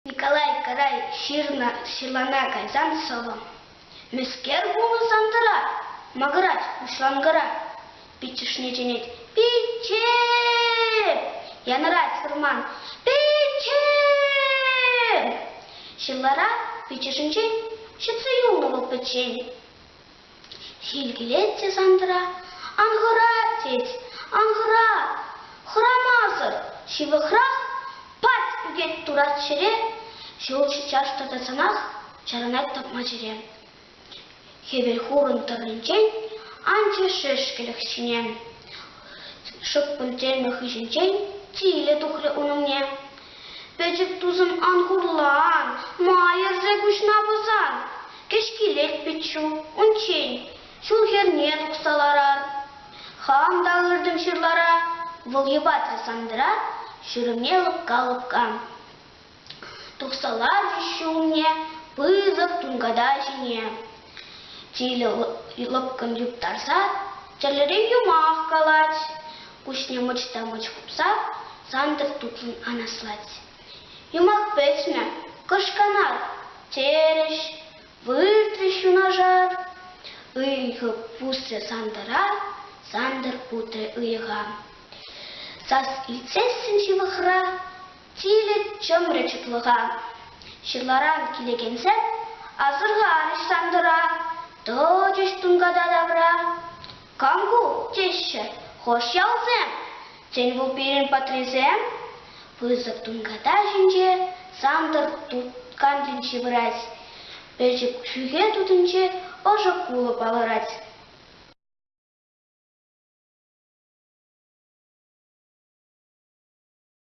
Николай Карай ҫырнӑ ҫырлана кайсан сӑвӑм. Мӗскер пулнӑ Сантӑра? Мӑкӑрать уҫланкӑра. Пиччӗшне чӗнет. Пичче! Янӑрать вӑрман. Пичче! Ҫырлара пиччӗшӗнчен ҫӗтсе юлнӑ вӑл пӗччен. Ҫил килет те Сантӑра, ан хӑра, тет, ан хӑра, хӑрамасӑр ҫывӑхрах пат ӳкет турат ҫӗре, ҫул ҫичаш тӑтӑсанах чарӑнать тӑпма чӗре. Хӗвел хурӑн тӑрринчен анчӗ шешкелӗх ҫине. Шӑппӑн телмӗ хыҫӗнчен тилӗ тухрӗ ун умне. Пӗчӗк тусӑм ан хурлан, майӑрсӗ куҫна пӑсан. Кӗҫкилет пиччу, унччен ҫул хӗрне тухса ларар. Хам та ыртӑм ҫырлара, вӑл йӑпатрӗ Сандра ҫурӑмне лӑпка-лӑпка. Тухса ларчӗ ҫумне пысӑк тунката ҫине. Тилӗ лӑпкӑн юптарса тӗрлӗрен юмах калать, куҫне мӑчта-мӑч хупса Сантӑр тутлӑн анаслать. Юмах пӗтмӗ, кӑшканар, терӗҫ, выртрӗҫ юнашар. Ыйхӑ пусрӗ Сантӑра, Сантӑр утрӗ ыйӑха. Сас илтсессӗн ҫывӑхра Тилӗ чӑмрӗ чутлӑха. Ҫырларан килекенсем асӑрхарӗҫ Сантӑра, тӑчӗҫ тунката тавра. Кам ку? теҫҫӗ хӑш ялсем. Тен, вӑл пирӗн патрисем? Пысӑк тунката ҫинче Сантӑр тукантинче пырать. Пӗчӗк ҫӳхе тутинче ӑшӑ кулӑ палӑрать.